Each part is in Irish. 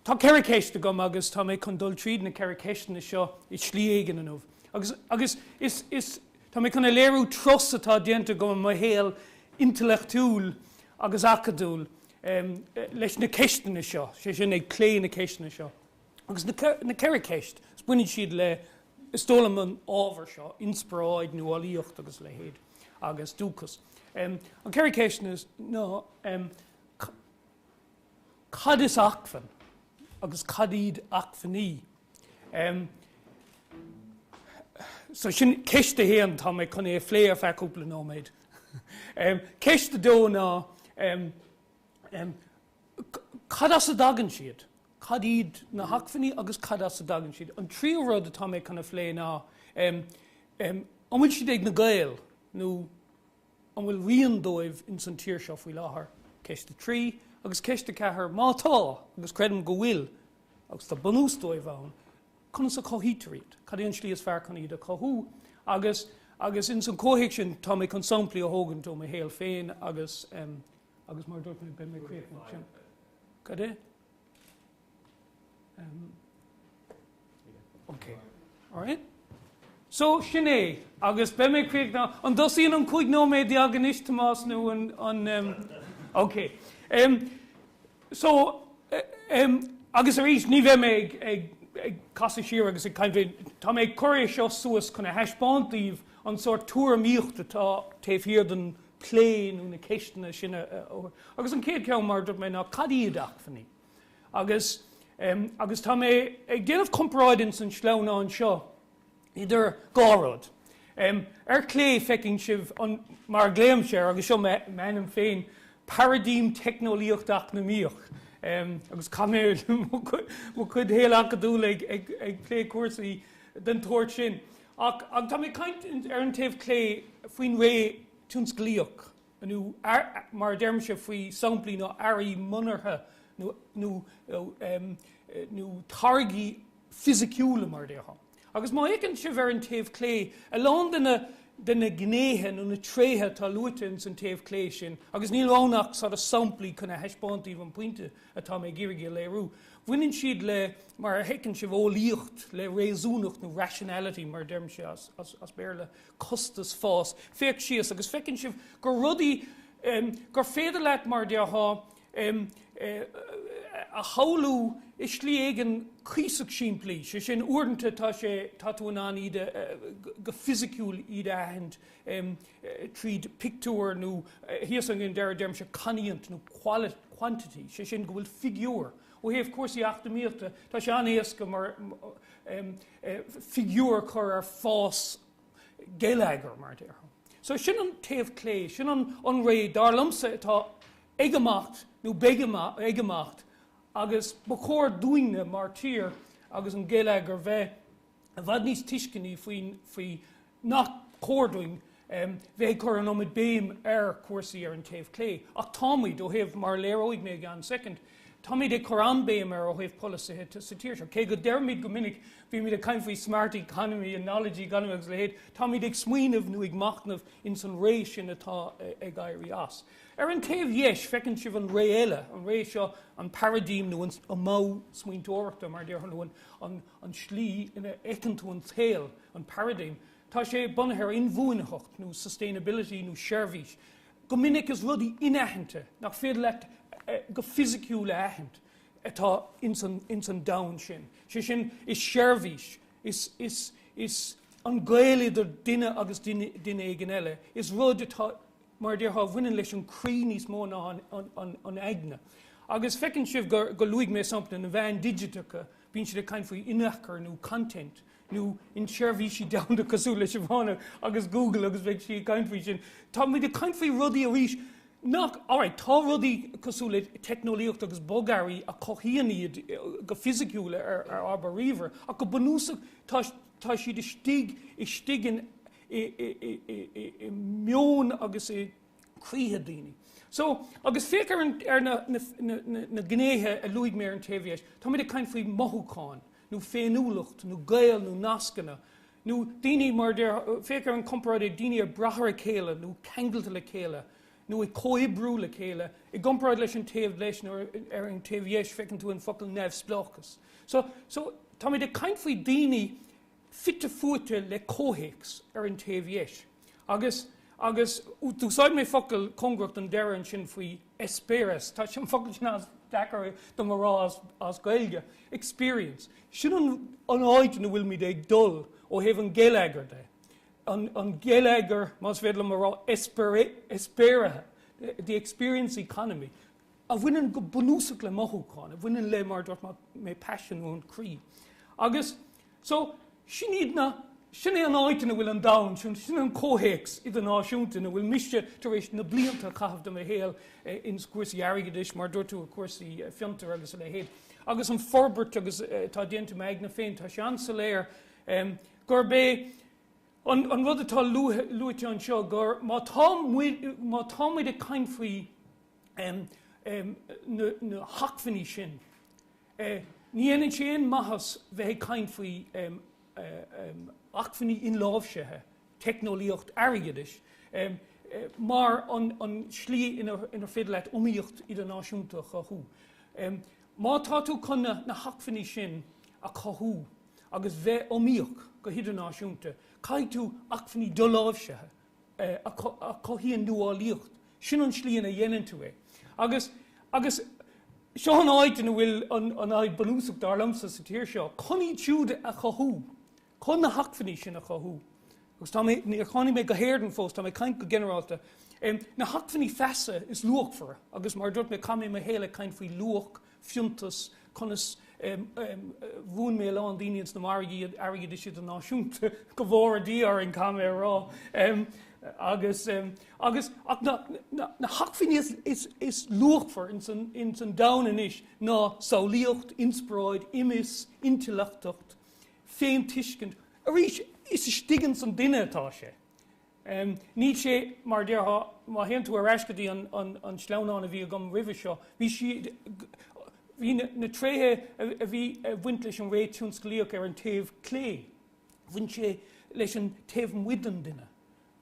Tá ceithre cheist agam agus tá mé chun dul tríd na ceithre cheisteanna seo i slí éigin inniu. Agus, agus, is, is, tá mé chun a léiriú turas atá déanta agam i mo shaol intleachtúil agus acadúil, em, leis na ceisteanna seo, sé sin, ag plé na ceisteanna seo. Agus na ceithre ceist, 's baineann siad le, is dóigh liom, an ábhar seo, inspioráid, nuálaíocht agus a leithéid, agus dúchas. An ceithre ceisteanna is ná, cad is acmhainn agus cad iad acmhainní? So sin ceist a haon, tá mé chun é a phlé ar feadh cúpla nóiméad. Ceist a dó ná, cad as a dtagann siad, cad iad na hacmhainní agus cad as a dtagann siad. An tríú rud atá mé chun a phlé ná an bhfuil siad ag na Gaeil nó an bhfuil rian dóibh ins an tír seo faoi láthair, ceist a trí, agus ceist a ceathair, má tá, agus creidim go bhfuil agus tá bunús dóibh ann, conas a chothaítear iad, cad é an slí is fearr chun iad a chothú. Agus, agus ins an chomhthéacs sin tá mé chun samplaí a thógaint ó mo shaol féin agus Agus mar a dúirt mé, beidh mé críochnaithe sin. Cad é? Em. Ok. Alright. So, sin é. Agus beidh mé críochnaithe. An dtosaíonn an cúig nóiméad déag anois, Tomás, nó an, em, ok. Em, so, em, agus arís ní bheidh mé ag, ag, ag casadh siar agus ag caint faoi, tá mé ag cur é seo suas chun a thaispeáint daoibh an sórt tuairimíocht atá taobh thiar den, plé nó na ceisteanna sin. Agus an chéad ceann, mar a dúirt mé, ná cad iad acmhainní? Agus, agus tá mé ag déanamh comparáid ins an sleamhnán seo idir dhá rud. Ar chlé feiceann sibh an, mar a ghlaoimse air, agus seo m'ainm féin, paraidím teicneolaíocht-eacnamaíoch. Agus chaith mé mo chuid shaol acadúil ag, ag, ag plé cúrsaí den tsórt sin. Ach tá mé ag caint ar an taobh clé faoin ré tionsclaíoch, nó mar a deirimse faoi samplaí nó earraí monarcha nó táirgí fisiciúla mar a déarfá. Agus má fhéachann sibh ar an taobh clé a lán de na gnéithe nó na tréithe atá luaite ins an taobh clé sin, agus níl ann ach sort of samplaí chun a thaispeáint daoibh an pointe atá mé ag iarraidh a léiriú. Bhaineann siad le, mar a fheiceann sibh, eolaíocht, le réasúnacht nó rationality mar a deirimse as Béarla, costas, fás. Féach síos agus feiceann sibh gur rudaí gur féidir leat, mar a déarfá, a shamhlú i slí éigin cuíosach simplí, sé sin uaireanta tá sé, tá tú in ann iad a, go fisiciúil iad a aithint. em. tríd pictiúr nó thíos an deireadh deirimse cainníocht nó quality, quantity, sé sin go bhfuil figiúir. Ó thaobh cúrsaí eacnamaíochta tá sé an-éasca mar, em, figiúir a chur ar fás geilleagair mar a déarfá. So sin an taobh clé, sin an an ré dar liomsa atá ag imeacht nó beidh ag imeacht agus ba chóir dúinne mar tír agus an geilleagar bheith i bhfad níos tuisceanaí faoi nach cóir dúinn bheith ag cur an iomad béim ar chúrsaí ar an taobh clé. Ach táimíd, ó thaobh, mar a léireoidh mé i gceann soicind, táimid ag cur an-béim air ó thaobh polasaithe de sa tír seo. Cé go ndeirimid go minic, bímid ag caint faoi smart economy and knowledge economy agus a leithéid, táimid ag smaoineamh nó ag machnamh ins an ré sin atá ag éirí as. Ar an taobh dheis, feiceann sibh an ré eile, an ré seo, an paraidím nó an modh smaointeoireachta, mar a déarfadh an an slí ina fheiceann tú an saol, an paradigm, tá sé bunaithe ar inbhuanaitheacht nó sustainability nó seirbhís. Go minic is rudaí inaitheanta, nach féidir leat go fisiciúil a aithint, atá ins an domhan sin. Sé sin, is seirbhís, is an gaol idir duine agus duine éigin eile, is rud atá, mar a déarfá, a bhaineann leis an croí níos mó ná an aigne. Agus feiceann sibh gur luaigh mé sampla na meáin digiteacha, Bíonn siad ag caint faoi inneachar nó content nó in seirbhísí domhanda cosúil le Sivana agus Google agus beidh sí ag caint faoi sin. Tá muid ag caint faoi rudaí arís nach, alright, tá rudaí cosúil le teicneolaíocht agus bogearraí a chothaíonn iad go fisiciúil ar ár ríomhaire ach go bunúsach tá tá siad istigh istigh in i meon agus i croíthe daoine. So, agus féach ar an, ar na, na, na, na, na gnéithe a luaigh mé ar an taobh dheis, táimid ag caint faoi mothúcháin, nó féiniúlacht, nó gaol, nó nascanna, nó daoine, mar a déarfá, féach ar an comparáid idir daoine ag brath ar a chéile, nó ceangailte le chéile, nó ag comhoibriú le chéile, i gcomparáid leis an taobh leis, nó ar, ar an taobh dheis, feiceann tú an focal neamhspleáchas. So, so táimid ag caint faoi daoine fite fuaite le comhthéacs ar an taobh dheis. Agus, agus, d'úsáid mé focal cóngarach don deireadh ansin faoi eispéireas, tá an focal sin as, deacair dom a rá as Gaeilge, experience. Sin an, an áit ina bhfuilimid ag dul ó thaobh an geilleagair de. An, an geilleagar, más féidir liom a rá, eispéirithe, the experience economy. a bhaineann go bunúsach le mothúcháin, a bhaineann le, mar a dúirt mé, paisean nó an croí. Agus so sin iad na, sin é an áit ina bhfuil an domhan, sin an comhthéacs idirnáisiúnta ina bhfuil mise tar éis na blianta a chaitheamh de mo shaol ins cúrsaí airgeadais, mar a dúirt tú, i gcúrsaí fiontair agus a leithéid. Agus an forbairt agus atá déanta i m'aigne féin, tá sé an-soiléir gurb é an rud atá luaite anseo gur má tá muid, má tá muid ag caint faoi, na hacmhainní sin. Ní dhéanann sé aon maitheas bheith ag caint faoi acmhainní inláimhsithe, teicneolaíocht, airgeadais, mar an slí inar féidir leat iomaíocht idirnáisiúnta a chothú. Má tá tú chun na hacmhainní sin a chothú agus bheith iomaíoch go hidirnáisiúnta, caithfidh tú acmhainní doláimhsithe a. a chothaíonn nuálaíocht, sin an slí ina dhéanann tú é. Agus, agus, seo an áit ina bhfuil an, an fhadhb bunúsach, dar liomsa, sa tír seo, chun iad siúd a chothú, chun na hacmhainní sin a chothú, agus tá mé, níor tháinig mé go hÉirinn fós, tá mé ag caint go ginearálta, na hacmhainní feasa is luachmhaire, agus mar a dúirt mé, chaith mé mo shaol ag caint faoi luach fiúntas, conas mhúin mé a lán daoine ins na margaí airgid idirnáisiúnta, go bhfóire Dia orainn, caithfidh mé a rá. Agus, agus, ach na, na, na hacmhainní is, is, is luachmhaire ins an, ins an domhan anois ná samhlaíocht, inspioráid, imfhios, intleachtacht, féintuiscint. Arís, is istigh ins an duine atá sé. Níl sé, mar a déarfá, má théann tú ar ais go dtí an sleamhnán a bhí agam roimhe seo, bhí siad, bhí na tréithe a bhí ag baint leis an ré tionsclaíoch ar an taobh clé, bhain sé leis an taobh amuigh den duine.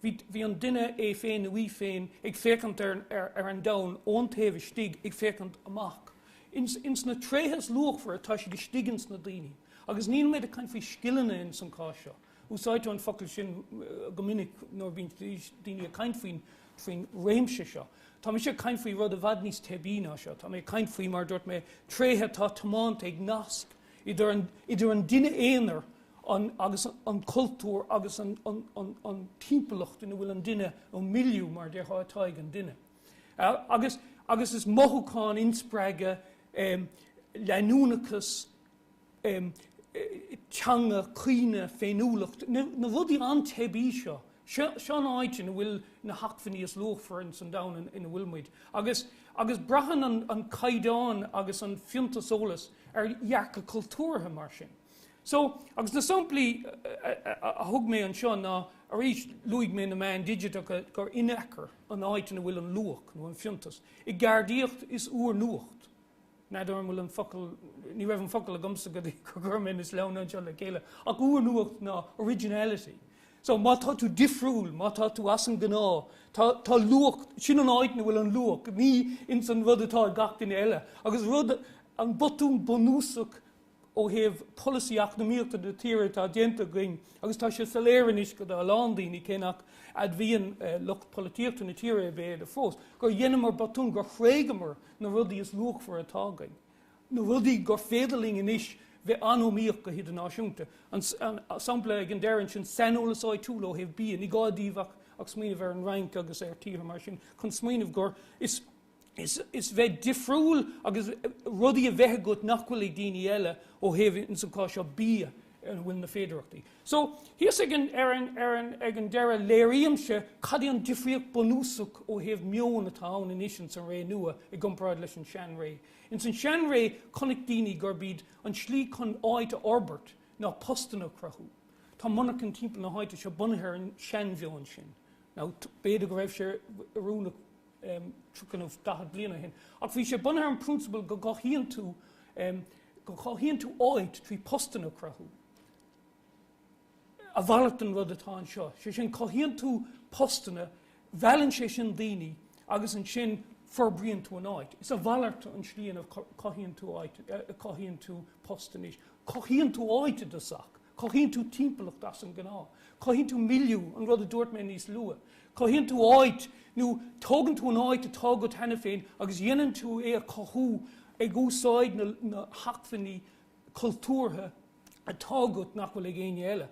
Bhí an duine é féin nó í féin ag féachaint ar an domhan ón taobh istigh ag féachaint amach. Anois na tréithe is luachmhaire tá siad istigh ins na daoine. Agus níl mé ag caint faoi scileanna ins an cás seo. Úsáidtear an focal sin go minic nuair a bhíonn daoine ag caint faoin réimse seo. Tá mise ag caint faoi rud i bhfad níos teibí ná seo. Tá mé ag caint faoi, mar a dúirt mé, tréithe atá tiomanta ag nasc idir an duine aonair agus an cultúr agus an timpeallacht ina bhfuil an duine, nó milieu, mar a déarfá, atá ag an duine. Agus is mothúchán, inspreagadh, leanúnachas, teanga, cuimhne, féiniúlacht, na rudaí an-teibí seo. Seo an áit ina bhfuil na hacmhainní is luachmhaire in san domhan ina bhfuil muid. Agus agus braitheann an an caighdeán agus an fiúntas eolais ar dhearcadh cultúrtha mar sin. So, agus na samplaí a thug mé anseo ná, arís, luaigh mé na meáin digiteacha gur in fact an áit ina bhfuil an luach nó an fiúntas i gceardaíocht is úrnuacht N'fheadar an bhfuil an focal, ní raibh an focal agamsa go dtí go gur chuir mé na sleamhnáin anseo le chéile, ach úrnuacht ná originality. So má tá tú difriúil, má tá tú as an ngnáth, tá, tá luach, sin an áit ina bhfuil an luach, ní ins an rud atá ag gach duine eile. Agus rud, an botún bunúsach, ó thaobh polasaí eacnamaíochta na tíre atá déanta againn agus tá sé soiléir anois do a lán daoine, cé nach n-admhaíonn lucht polaitíochta na tíre é b'fhéidir fós, gur dheineamar botún, gur thréigeamar na rudaí is luachmhaire atá againn, na rudaí gur féidir linn anois bheith an-iomaíoch go hidirnáisiúnta. An sampla ag an deireadh ansin, saineolas áitiúil ó thaobh bia, ní gá daoibh ach smaoineamh ar an Fhrainc agus ar tíortha mar sin chun smaoineamh gur, is is, is bheith difriúil agus rudaí a bheith agat nach bhfuil ag daoine eile ó thaobh, ins an cás seo, bia ar a bhfuil na féidireachtaí. So, thíos ag an, ar an, ar an, ag an deireadh léirímse cad é an difríocht bunúsach ó thaobh meoin atá ann anois ins an ré nua i gcomparáid leis an sean ré. Ins an sean ré chonaic daoine gurb iad an slí chun áit a fhorbairt ná postanna a chruthú. Tá monarchana timpeall na háite seo bunaithe ar an sean mheoin sin. Now, b'fhéidir go raibh sé oiriúnach Tríocha nó daichead bliain ó shin. Ach bhí sé bunaithe ar an prionsabal go gcothaíonn tú, go gcothaíonn tú áit trí postanna a cruthú. A mhalairt den rud atá anseo. Sé sin, cothaíonn tú postanna, meallann sé sin daoine agus ansin forbraíonn tú an áit. Is a mhalairt an slí ina cothaíonn tú áit, cothaíonn tú post anois. Cothaíonn tú áit i dtosach. Cothaíonn tú timpeallacht as an gnáth. Cothaíonn tú milieu, an rud a dúirt mé níos luath. Cothaíonn tú áit, nó tógann tú an áit atá agat cheana féin agus dhéanann tú é a chothú ag úsáid na na hacmhainní cultúrtha atá agat nach bhfuil ag éinne eile.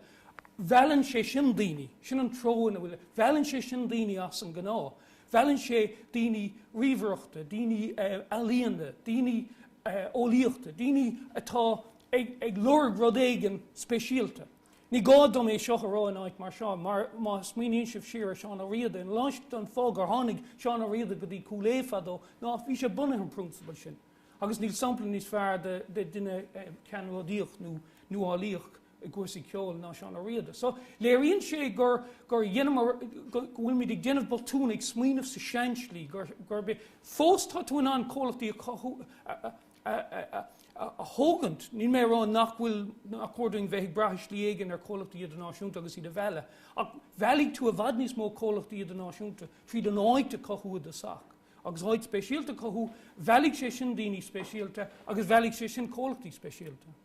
Meallann sé sin daoine. Sin an treo ina bhfuil. Meallann sé sin daoine as an gnáth. Meallann sé daoine ríomhaireachta, daoine ealaíona, daoine eolaíochta, daoine atá. ag, ag lorg rud éigin speisialta. Ní gá dom é seo a rá in áit mar seo, mar má smaoiníonn sibh siar ar Seán Ó Riada, an leath don fáth gur tháinig Seán Ó Riada go dtí Cúil Aodha fadó ná bhí sé bunaithe an prionsabal sin. Agus níl sampla níos fearr de, de duine ceannródaíoch nó nuálaíoch i gcúrsaí ceoil ná Seán Ó Riada. So, léiríonn sé gur, gur dheineamar, go, go bhfuilimid ag déanamh botún ag smaoineamh sa sean slí, gur, gurb é, fós tá tú in ann comhlachtaí a chothú, a, a, a thógaint. Níl mé ag rá nach bhfuil, nach cóir dúinn bheith ag brath i slí éigin ar chomhlachtaí idirnáisiúnta agus iad a mhealladh, ach meallfaidh tú i bhfad níos mó comhlachtaí idirnáisiúnta tríd an áit a chothú i dtosach, agus áit speisialta a chothú, meallfaidh sé sin daoine speisialta agus meallfaidh sé sin comhlachtaí speisialta.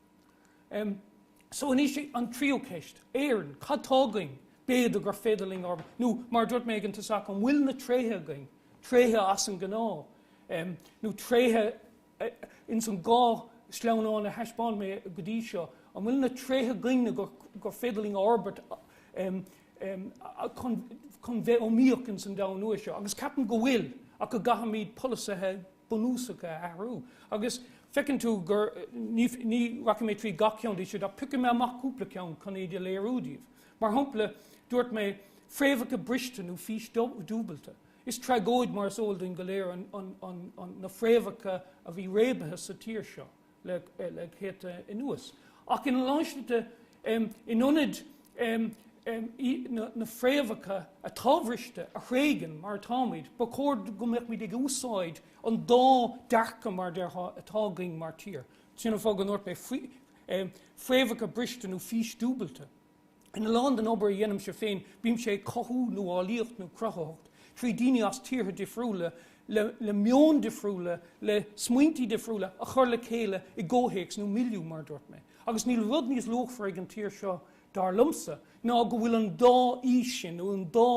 Em, so anois i, an tríú ceist, Éireann, cad tá againn, b'fhéidir gur féidir linn ár, nó mar a dúirt mé ag an tosach, an bhfuil na tréithe againn, tréithe as an ngnáth, em, nó tréithe, eh, ins an dhá sleamhnán a thaispeáin mé go dtí seo, an bhfuil na tréithe againn gur, gur féidir linn a fhorbairt, em, em, chun, chun bheith iomaíoch ins an domhan nua seo. Agus ceapaim go bhfuil, ach go gcaithfimid polasaithe bunúsacha a athrú. Agus feiceann tú gur, ní, ní rachaidh mé tríd gach ceann díobh siúd ach piocfaidh mé amach cúpla ceann chun iad a léiriú daoibh. Mar shampla, dúirt mé, fréamhacha briste nó fís dúbailte. Is tragóid mar is eol dúinn go léir an, an, an, an, na fréamhacha a bhí réabtha sa tír seo. le céadta anuas. Ach ina lán slite, in ionad na fréamhacha atá briste a thréigean, mar atáimid, ba chóir go mbeimis ag úsáid an dá dearcadh, mar a déarfá, atá againn mar tír. Sin an fáth go ndúirt mé fréamhacha briste nó fís dúbailte. Ina lán den obair a dhéanaimse féin bímse ag cothú nuálaíocht nó cruthaitheacht trí daoine as tíortha difriúla le le meoin difriúla le smaointí difriúla a chur le chéile i gcomhthéacs nó milieu mar a dúirt mé. Agus níl rud níos luachmhaire ag an tír seo dar liomsa ná go bhfuil an dá fhís sin nó an dá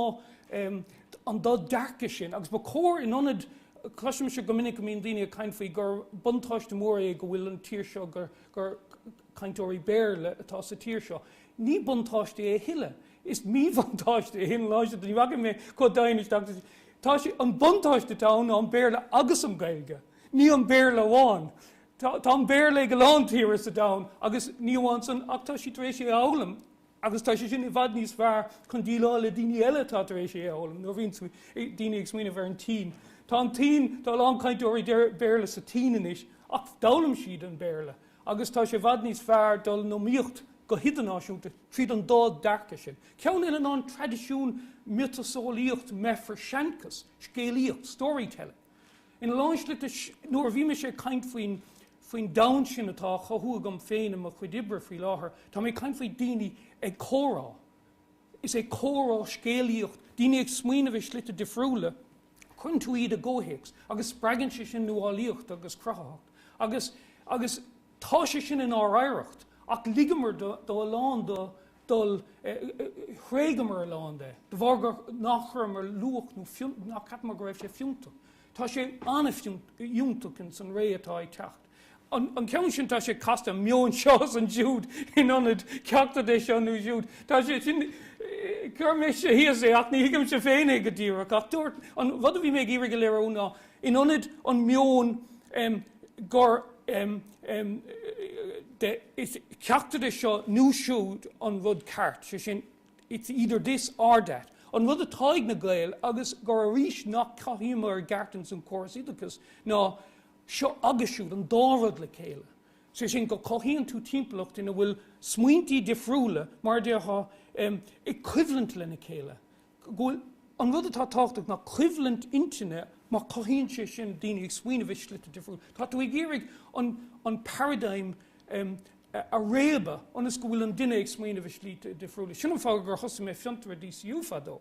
em an dá dearcadh sin agus ba chóir in ionad cloisimse go minic go mbíonn daoine ag caint faoi gur buntáiste mór é go bhfuil an tír seo gur gur cainteoirí Béarla atá sa tír seo. Ní buntáiste é a thuilleadh. Is míbhuntáiste é an lá seo. Ní bhacfaidh mé chomh domhain isteach sa. Tá sé. An buntáiste atá ann ná an Béarla agus an Ghaeilge. Ní an Béarla amháin. Tá. Tá an Béarla ag a lán tíortha sa domhan agus ní amháin san ach tá siad tar éis é a fhoghlaim agus tá sé sin i bhfad níos fearr chun déileáil le daoine eile atá tar éis é a fhoghlaim. Nuair a bhíonn daoine ag smaoineamh ar an tSín, tá an tSín, tá a lán cainteoirí Béarla sa tSín anois ach d'fhoghlaim siad an Béarla. Agus tá sé i bhfad níos fearr dul in iomaíocht go hidirnáisiúnta tríd an dá dearcadh sin, ceann eile ná an traidisiún miotaseolaíocht, meafar, seanchas, scéalaíocht, storytelling. Ina lán slite, nuair a bhí mise ag caint faoin, faoin domhan sin atá á chothú agam féin i mo chuid oibre faoi láthair, tá mé ag caint faoi daoine ag comhrá, is é comhrá scéalaíocht, daoine ag smaoineamh i slite difriúla. Cuireann tú iad i gcomhthéacs agus spreagann sé sin nuálaíocht agus cruthaitheacht agus agus tá sé sin inár oidhreacht ach ligeamar do do a lán do dul thréigeamar a lán de de bharr gur nach chuireamar luach nó nach ceapamar go raibh sé fiúntach. Tá sé an-fhiúntach in san ré atá ag teacht. an ceann sin, tá sé casta, an meon seo is siúd in ionad ceachtar de seo nó siúd. Tá sé sin, chuir mise thíos é ach ní thuigimse féin é go díreach ach dúirt, an rud a bhí mé ag iarraidh a léiriú ná in ionad an meon gur de, is ceachtar de seo nó siúd an rud ceart, sé sin it's either this or that, an rud atá ag na Gaeil agus gur arís nach gcothaímid i gceart ins an córas oideachais ná seo agus siúd an dá rud le chéile, sé sin go cothaíonn tú timpeallacht ina bhfuil smaointí difriúla, mar a déarfá, i gcoimhlint lena chéile, go bhfuil an rud atá tábhachtach ná coimhlint intinne mar cothaíonn sé sin daoine ag smaoineamh i slite difriúla. Tá tú ag iarraidh an paradigm a réabadh ionas go bhfuil an duine ag smaoineamh i slite difriúla. Sin an fáth gur thosaigh mé Fiontar i DCU fadó.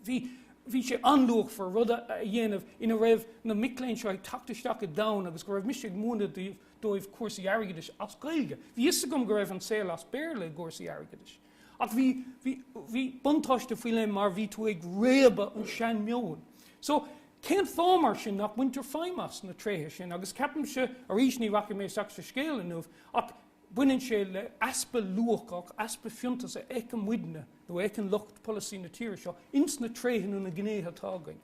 Bhí, bhí sé an-luachmhar rud a, a dhéanamh ina raibh na mic léinn seo ag teacht isteach i domhan agus go raibh mise ag múineadh daoibh, dóibh cúrsaí airgeadais as Gaeilge. Bhí fhios agam go raibh an saol as Béarla i gcúrsaí airgeadais. Ach bhí, bhí, bhí buntáiste faoi leith mar bhí tú ag réabadh an sean-mheoin. So, cén fáth mar sin nach mbaintear feidhm as na tréithe sin agus ceapaimse, arís ní rachaidh mé isteach sa scéal inniu, ach Baineann sé le easpa luacha, easpa fiúntais a fheiceann muidne, nó a fheiceann lucht polasaí na tíre seo, ins na tréithe nó na gnéithe atá againn.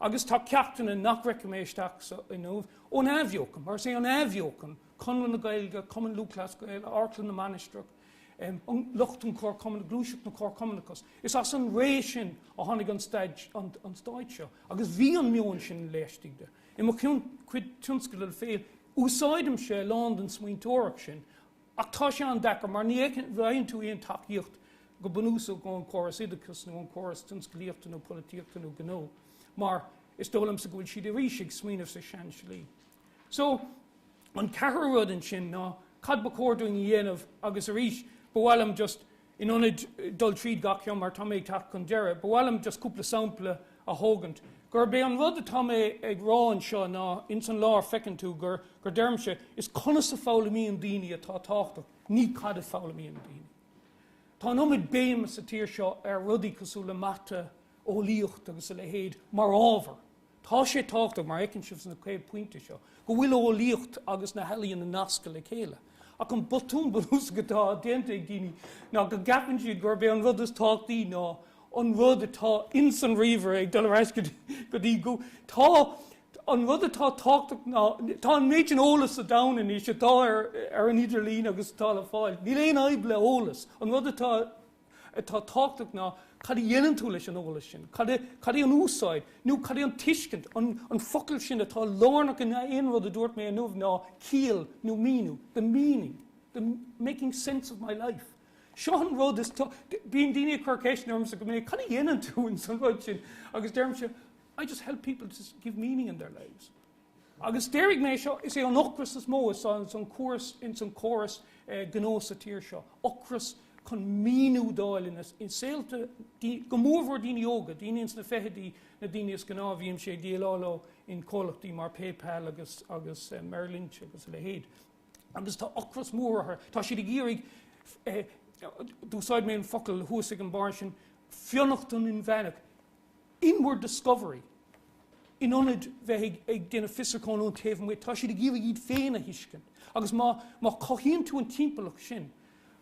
Agus tá ceachtanna nach rachaidh mé isteach sa inniu ón athbheochan, mar is é an athbheochan, Conradh na Gaeilge, Cumann Lúthchleas Gael, Amharclann na Mainistreach, an, lucht an Comharchumann, Gluaiseacht an Chomharchumannachais. Is as an ré sin a tháinig an stáit, an, an stát seo. Agus bhí an meon sin laistigh de. I mo chion, mo chuid tionscadal féin, Úsáidimse a lán den smaointeoireacht sin ach tá sé an-deacair mar ní fhaigheann tú aon tacaíocht go bunúsach ón chóras oideachais nó ón chóras tionsclaíochta nó polaitíochta nó gnó mar is dóigh liomsa go bhfuil siad arís ag smaoineamh sa sean-slí. So, an ceathrú rud ansin ná cad ba chóir dúinn a dhéanamh agus arís ba mhaith liom just In ionad dul tríd gach ceann mar tá mé ag teacht chun deireadh, ba mhaith liom just cúpla sampla a thógaint. Gurb é an rud atá mé ag rá anseo ná, ins an lár feiceann tú gur, gur deirimse, is conas a foghlaimíonn daoine atá tábhachtach, ní cad a foghlaimíonn daoine. Tá an iomad béime sa tír seo ar rudaí cosúil le mata, eolaíocht agus a leithéid mar ábhar. Tá sé tábhachtach, mar a fheiceann sibh sna 5 pointe seo, go bhfuil an eolaíocht agus na healaíona nasctha le chéile. Ach an botún bunúsach atá déanta ag daoine ná go gceapann siad gurb é an rud is tábhachtaí ná an rud atá ins an ríomhaire ag dul ar ais go dtí Google. Tá an rud atá tábhachtach ná tá an méid sin eolas sa domhan anois atá ar an idirlíon agus atá le fáil. Níl aon fhadhb le heolas. An rud atá. atá tábhachtach ná cad a dhéanann tú leis an eolas sin, cad é, cad é an úsáid, nó cad é an tuiscint, an, an focal sin atá lárnach in aon rud a dúirt mé inniu ná ciall nó míniú, the meaning, the making sense of my life. Seo an rud is tá, bíonn daoine ag cur ceisteanna ormsa go minic, cad a dhéanann tú ins an rud sin agus deirimse, I just help people to give meaning in their lives. Agus déarfaidh mé seo, is é an ocras is mó ins an, san córas, ins an córas gnó sa tír seo, ocras chun míniú d'fháil in a, in saolta daoine, go mór mhór daoine óga, daoine ins na feichidí, na daoine is gnáth a bhímse ag déileáil leo in comhlachtaí mar PayPal agus, agus Merrill Lynch agus a leithéid. Agus tá ocras mór ortha, tá siad ag iarraidh eh, d'úsáid mé an focal thuas ag an barr sin, fionnachtain inmheánach, inward discovery, in ionad bheith ag déanamh fiosrúcháin ón taobh amuigh, tá siad ag iarraidh iad féin a thuiscint. Agus má chothaíonn tú an timpeallacht sin,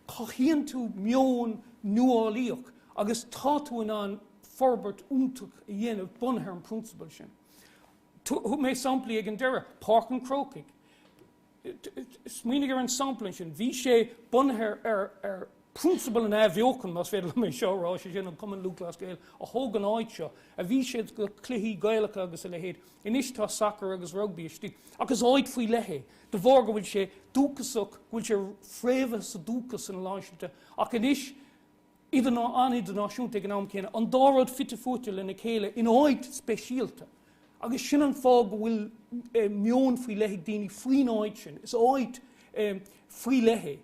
cothaíonn tú meon nuálaíoch agus tá tú in ann forbairt fhiúntach a dhéanamh bunaithe ar an bprionsabal sin. Thug mé samplaí ag an deireadh, Páirc an Chrócaigh, Smaoinigh ar an sampla ansin. Bhí sé bunaithe ar phrionsabal an athbheochan, más féidir liom é seo a rá, sé sin, an Cumann Lúthchleas Gael a thóg an áit seo, a bhí siad, go cluichí Gaelacha agus a leithéid. Anois tá sacar agus rugbaí istigh. Ach is áit faoi leith é, de bharr go bhfuil sé dúchasach, go bhfuil sé fréamhaithe sa dúchas in a lán slite. Ach anois. idirnáisiúnta ag an am céanna, an dá rud fite fuaite lena chéile in áit speisialta agus sin an fáth go bhfuil meon faoi leith ag daoine faoin áit sin. Is áit faoi leith é.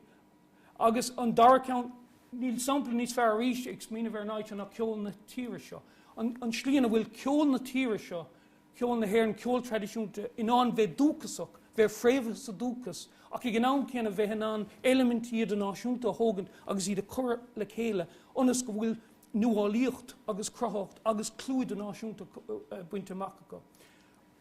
Agus an dara ceann, níl sampla níos fearr arís ag smaoineamh ar an áit seo ná ceol na tíre seo. An slí ina bhfuil ceol na tíre seo Cheol na hÉireann, ceol traidisiúnta, in ann bheith dúchasach, bheith fréamhaithe sa dúchas, ach ag an am céanna bheith in ann eilimintí idirnáisiúnta a thógaint agus iad a chur le chéile ionas go bhfuil nuálaíocht agus cruthaitheacht agus clú idirnáisiúnta bainte amach acu.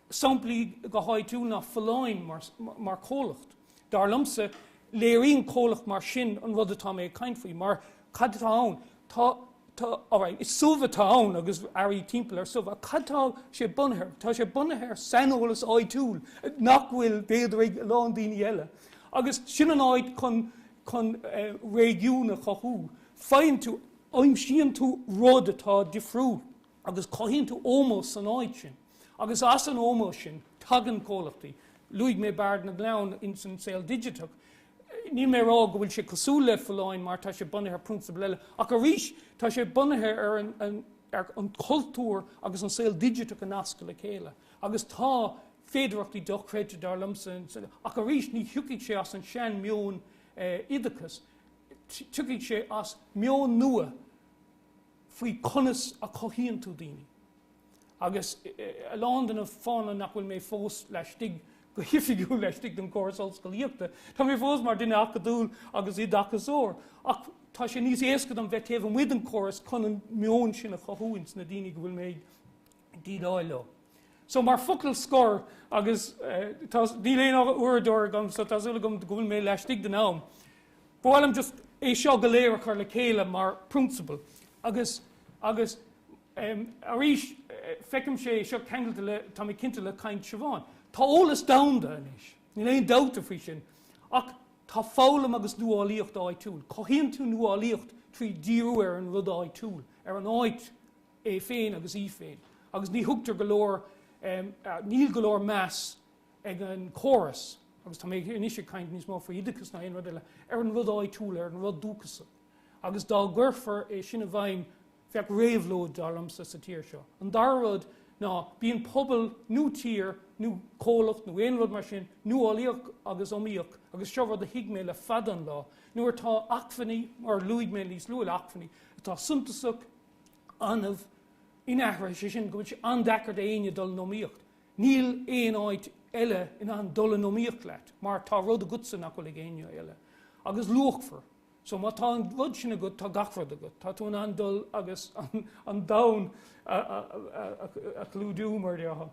Samplaí go háitiúil ná Folláin mar comhlacht. Dar liomsa, léiríonn comhlacht mar sin an rud atá mé ag caint faoi, mar cad atá ann? Tá, tá, alright, is subh atá ann agus earraí timpeall ar subh, ach cad atá sé bunaithe ar? Tá sé bunaithe ar saineolas áitiúil nach bhfuil, b'fhéidir, ag a lán daoine eile. Agus sin an áit chun, chun eh, réigiún a chothú, faigheann tú, aimsíonn tú rud atá difriúil. agus cothaíonn tú ómós san áit sin agus as an ómós sin tagann comhlachtaí, luaigh mé Bard na gClann ins an saol digiteach, níl mé ag rá go bhfuil sé cosúil le Folláin mar tá sé bunaithe ar prionsabal eile ach arís tá sé bunaithe ar an chultúr agus an saol digiteach a nascadh le chéile agus tá féidearthachtaí dochreidte dar liomsa ach arís ní thiocfaidh sé as an seanmheon oideachais, tiocfaidh sé as meon nua. faoi conas a chothaíonn tú daoine. Agus a lán de na fáthanna nach bhfuil mé fós laistigh go hoifigiúil laistigh den chóras ollscolaíochta, tá mé fós mar duine acadúil agus oideachasóir, ach tá sé níos éasca dom bheith taobh amuigh den chóras chun an meon sin a chothú ins na daoine go bhfuil mé ag déileáil leo. So mar focal scor agus tá, níl aon uaireadóir agam so tá súil agam go bhfuil mé laistigh den am, ba mhaith liom just é seo go léir a chur le chéile mar prionsabal agus, agus arís feicim sé seo ceangailte le, tá mé cinnte le caint Siobhán. Tá eolas domhanda anois, níl aon dabht faoi sin, ach tá foghlaim agus nuálaíocht áitiúil, cothaíonn tú nuálaíocht trí dhíriú ar an rud áitiúil, ar an áit, é féin agus í féin agus ní thugtar go leor, níl go leor meas ag an chóras, agus tá mé anois ag caint níos mó faoi oideachas ná aon rud eile, ar an rud áitiúil, ar an rud dúchasach. Agus dá gcuirfí é sin i bhfeidhm, bheadh réabhlóid, dar liomsa, sa tír seo. An dara rud ná bíonn pobal nó tír nó comhlacht nó aon rud mar sin nuálaíoch agus iomaíoch agus seo rud a thuig mé le fada an lá, nuair atá acmhainní, mar a luaigh mé níos luaithe, acmhainní atá suntasach, annamh, inaithris, sé sin go bhfuil sé an-deacair d'éinne dul in iomaíocht. Níl aon áit eile in ann dul in iomaíocht leat mar tá rud agatsa nach bhfuil ag éinne eile agus luachmhar. So má tá an rud sin agat tá gach rud agat, tá tú in ann dul agus an domhan a chlúidiú mar déarfá.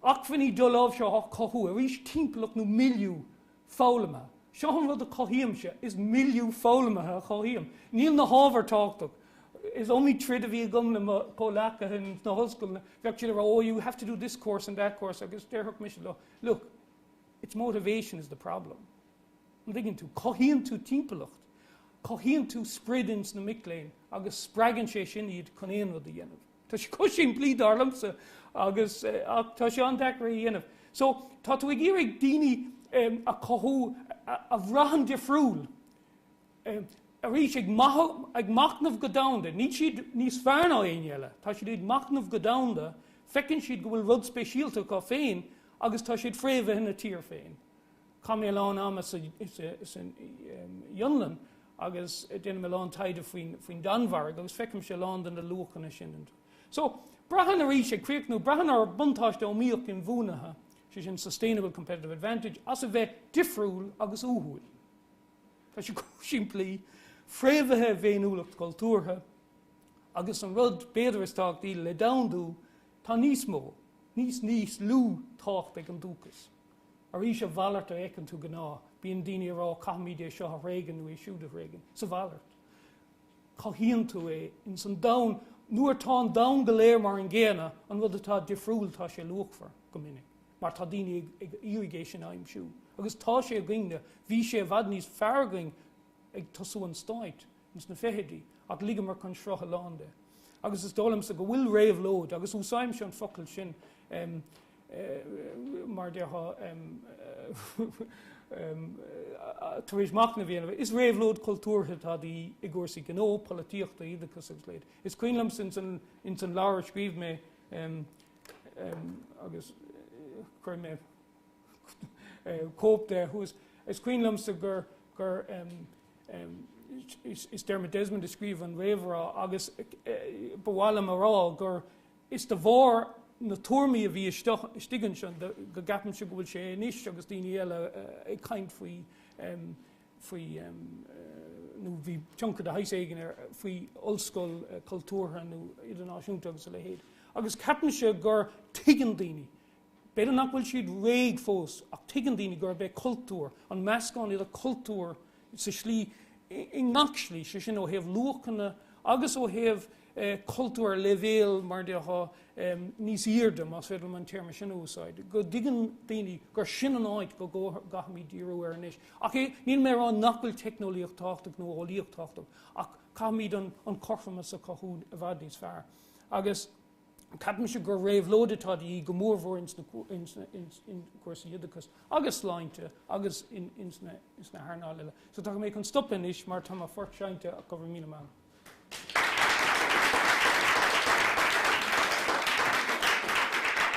Acmhainní doláimhseartha á cothú, arís timpeallacht nó milieu, foghlamtha. Seo an rud a chothaímse, is milieu foghlamtha a chothaím. Níl na hábhair tábhachtach. Is iomaí troid a bhí agam le mo chomhleacaithe in sna hollscoileanna, bheadh siad ag rá oh you have to do this course and that course agus déarfadh mise leo look, it's motivation is the problem. An dtuigeann tú? Cothaíonn tú timpeallacht, cothaíonn tú sprid in sna mic léinn agus spreagann sé sin iad chun aon rud a dhéanamh. Tá sé chomh simplí, dar liomsa, agus, ach tá sé an-deacair é a dhéanamh. So, tá tú ag iarraidh daoine a chothú a bhraitheann difriúil, arís, ag machnamh go domhanda. Níl siad níos fearr ná éinne eile. Tá siad ag machnamh go domhanda, feiceann siad go bhfuil rud speisialta acu féin agus tá siad fréamhaithe ina dtír féin. Chaith mé a lán ama sa Fhionlainn agus déanaim a lán taighde faoin Danmhairg agus feicimse a lán de na luachanna sin iontu. So, braitheann arís, ag críochnú, braitheann ár mbuntáiste iomaíoch inbhuanaithe, sé sin sustainable competitive advantage, as a bheith difriúil agus uathúil. Tá sé chomh simplí, fréamhaithe i bhféiniúlacht chultúrtha, agus an rud, b'fhéidir, is tábhachtaí le domhandú, tá níos mó, níos, níos lú tábhacht ag an dúchas. Arís, a mhalairt a fheiceann tú gnáth. Bíonn daoine ag rá caithfimíd é seo a thréigean nó é siúd a thréigean. Is a mhalairt, cothaíonn tú é ins an domhan. Nuair atá an domhan go léir mar an gcéanna, an rud atá difriúil tá sé luachmhar, go minic, mar tá daoine ag iarraidh é sin a aimsiú. Agus tá sé againn-ne. Bhí sé i bhfad níos fearr againn ag tosú an Stáit. sna fichidí, ach ligeamar chun srutha a lán de. Agus is dóigh liomsa go bhfuil réabhlóid, agus úsáidimse an focal sin mar a déarfá tar éis machnamh a dhéanamh, is réabhlóid chultúrtha atá de dhíth i gcúrsaí gnó, polaitíochta, oideachais agus a leithéid. Is cuimhin liomsa ins an leabhar a scríobh mé agus chuir mé. cóip de thuas. Is cuimhin liomsa gur gur is Dermot Desmond a scríobh an réamhrá agus ba mhaith liom a rá gur is de bharr na tuairmí a bhí istigh anso go gceapaimse go bhfuil sé anois agus daoine eile ag caint faoi faoi nó bhí tionchar de shaghas éigin ar faoi ollscoil cultúrtha nó idirnáisiúnta agus a leithéid. Agus ceapaimse gur tuigeann daoine B'fhéidir nach bhfuil siad réidh fós ach tuigeann daoine gurb é cultúr, an meascán idir cultúr sa slí, i ngach slí, sé sin ó thaobh luachanna agus ó thaobh cultúr ar leibhéal mar déarfá níos aoirde, más féidir liom an téarma sin a úsáid, go dtuigeann daoine gur sin an áit go gcaithfimíd díriú air anois. Ach é, níl mé a rá nach bhfuil teicneolaíocht tábhachtach nó eolaíocht tábhachtach ach caithfimíd an cothromas a chothú i bhfad níos fearr agus, Ceapaimse gur réabhlóid atá de dhíth go mór mór ins na cúrsaí oideachais agus sláinte agus ins na hearnáil eile. So tá mé chun stop anois mar tá mo phort seinnte ach go raibh míle maith.